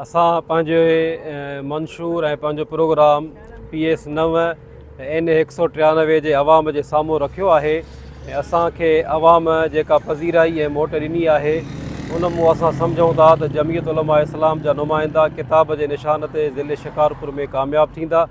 اسان پنهنجي منشور ۽ پنهنجو پروگرام پي ايس نو ۽ اين اي هڪ سؤ ٽيانوي جي عوام جي سامهون رکيو آهي ۽ اسان کي عوام جيڪا پذيرائي ۽ موٽ ڏني آهي ان مون اسان سمجهون ٿا ته جمعيت علماء اسلام جا نمائندا ڪتاب جي نشان تي ضلعي شڪارپور ۾ ڪامياب ٿيندا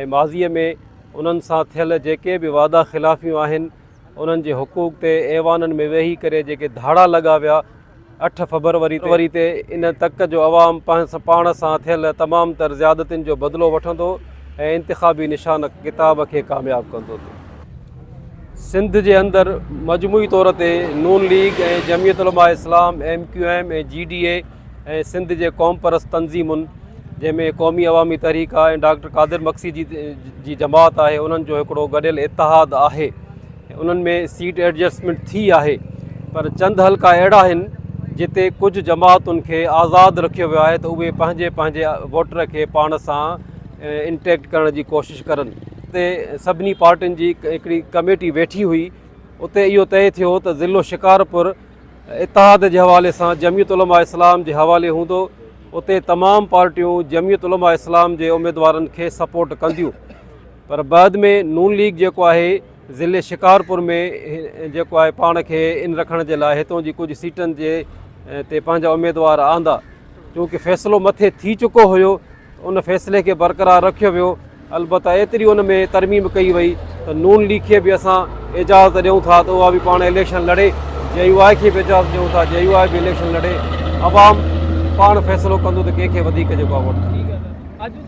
۽ ماضي ۾ انهن سان ٿيل جيڪي به وعده خلافيون آهن انهن جي حقوق تي ايوانن ۾ ويهي ڪري جيڪي ڌاڙا لڳا ويا اٺ فبروري تي ان تڪ جو عوام پاڻ سان ٿيل تمام تر زيادتين جو بدلو وٺندو ۽ انتخابي نشان ڪتاب کي ڪامياب ڪندو ٿي سنڌ جي اندر مجموعي طور تي نون league ۽ Jamiat Ulema Islam M Q M ۽ G D A ۽ Sindh جي قوم پرست تنظيمن جنهن ۾ قومي عوامي تحريڪ آهي ۽ ڊاڪٽر قادر مڪسي جي جي جماعت آهي انهن جو هڪڙو گڏيل اتحاد آهي انهن ۾ سيٽ ايڊجسٽمينٽ ٿي آهي پر چند حلقا اهڙا آهن جتي ڪجهه جماعتن کي آزاد رکيو ويو آهي ته اهي پنهنجي پنهنجي ووٽر کي پاڻ سان انٽيڪٽ ڪرڻ جي ڪوشش ڪرن اتي سڀني پارٽين جي هڪڙي ڪميٽي ويٺي هئي اتي اهو طئي ٿيو ته ضلعو شڪارپور اتحاد جي حوالي سان جميعت علماء اسلام جي حوالي هوندو اتي تمام پارٽيون جميعت علماء اسلام جي اميدوارن کي سپورٽ ڪنديون پر بعد ۾ نون ليگ جيڪو آهي ضلعي شڪارپور ۾ جيڪو آهي پاڻ کي ان رکڻ جي لاء هتون جي ڪجهه سيٽن جي تي پنهنجا اميدوار آندا چونڪه فيصلو مٿي ٿي چڪو هيو ان فيصلي کي برقرار رکيو ويو البته ايتري ان ۾ ترميم ڪئي وئي ته نون ليگ کي به اسان اجازت ڏيون ٿا ته اها به پاڻ اليڪشن لڙي جي يو آء کي به اجازت ڏيون ٿا جي يو آء به اليڪشن لڙي عوام پاڻ فيصلو ڪندو ته ڪنهن کي وڌيڪ جيڪو آهي ووٽ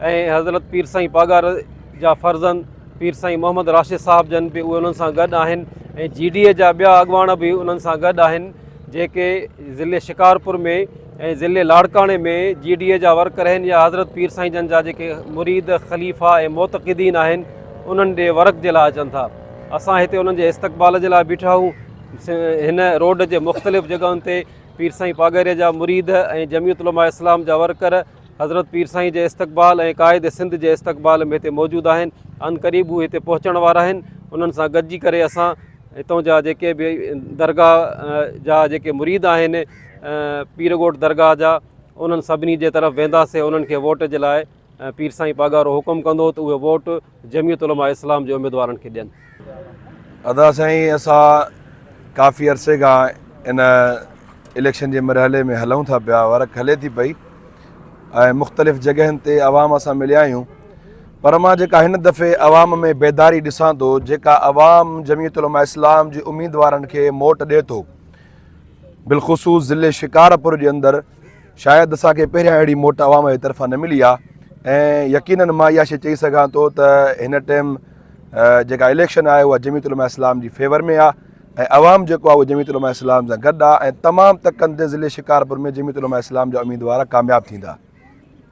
۽ حضرت پير سائين پاڳاري جا فرزند پير سائين محمد راشد صاحب جن به اهي انهن سان گڏ آهن ۽ جي ڊي اي جا ٻيا اڳواڻ به انهن سان گڏ آهن جيڪي ضلعي شڪارپور ۾ ۽ ضلعي لاڙڪاڻي ۾ جي ڊي اي جا ورڪر آهن يا حضرت پير سائين جن جا جيڪي مريد خليفا ۽ معتقدين آهن انهن ڏي ورڪ جي لاء اچن ٿا اسان هتي انهن جي استقبال جي لاء بيٺا آهيون هن روڊ جي مختلف جڳهن تي پير سائين پاڳاري جا مريد ۽ جميعت علماء اسلام جا ورڪر حضرت پير سائين جي استقبال ۽ قائد سنڌ جي استقبال ۾ هتي موجود آهن عن قريب هو هتي پهچڻ وارا آهن انهن سان گڏجي ڪري اسان هتون جا جيڪي به درگاهه جا جيڪي مريد آهن پير ڳوٺ درگاهه جا انهن سڀني جي طرف وينداسين انهن کي ووٽ جي لاء پير سائين پاڳارو حڪم ڪندو ته اهي ووٽ جميعت علماء اسلام جي اميدوارن کي ڏين. ادا سائين اسان ڪافي عرصي کان ان اليڪشن جي مرحلي ۾ هلون ٿا پيا ورڪ هلي ٿي پئي ۽ مختلف جڳهين تي عوام اسان مليا آهيون پر مان جيڪا هن دفعي عوام ۾ بيداري ڏسان ٿو جيڪا عوام جميعت علماء اسلام جي اميدوارن کي موٽ ڏي ٿو بالخصوص ضلع شڪارپور جي اندر شايد اسان کي پهريان اهڙي موٽ عوام جي طرفان نه ملي آهي ۽ يقينن مان اها شيء چئي سگهان ٿو ته هن ٽيم جيڪا اليڪشن آهي اها جميت علماء اسلام جي فيور ۾ آهي ۽ عوام جيڪو آهي اهو جميت علماء اسلام سان گڏ آهي ۽ تمام تڪن تي ضلعي شڪارپور ۾ جميت علماء اسلام جا اميدوار ڪامياب ٿيندا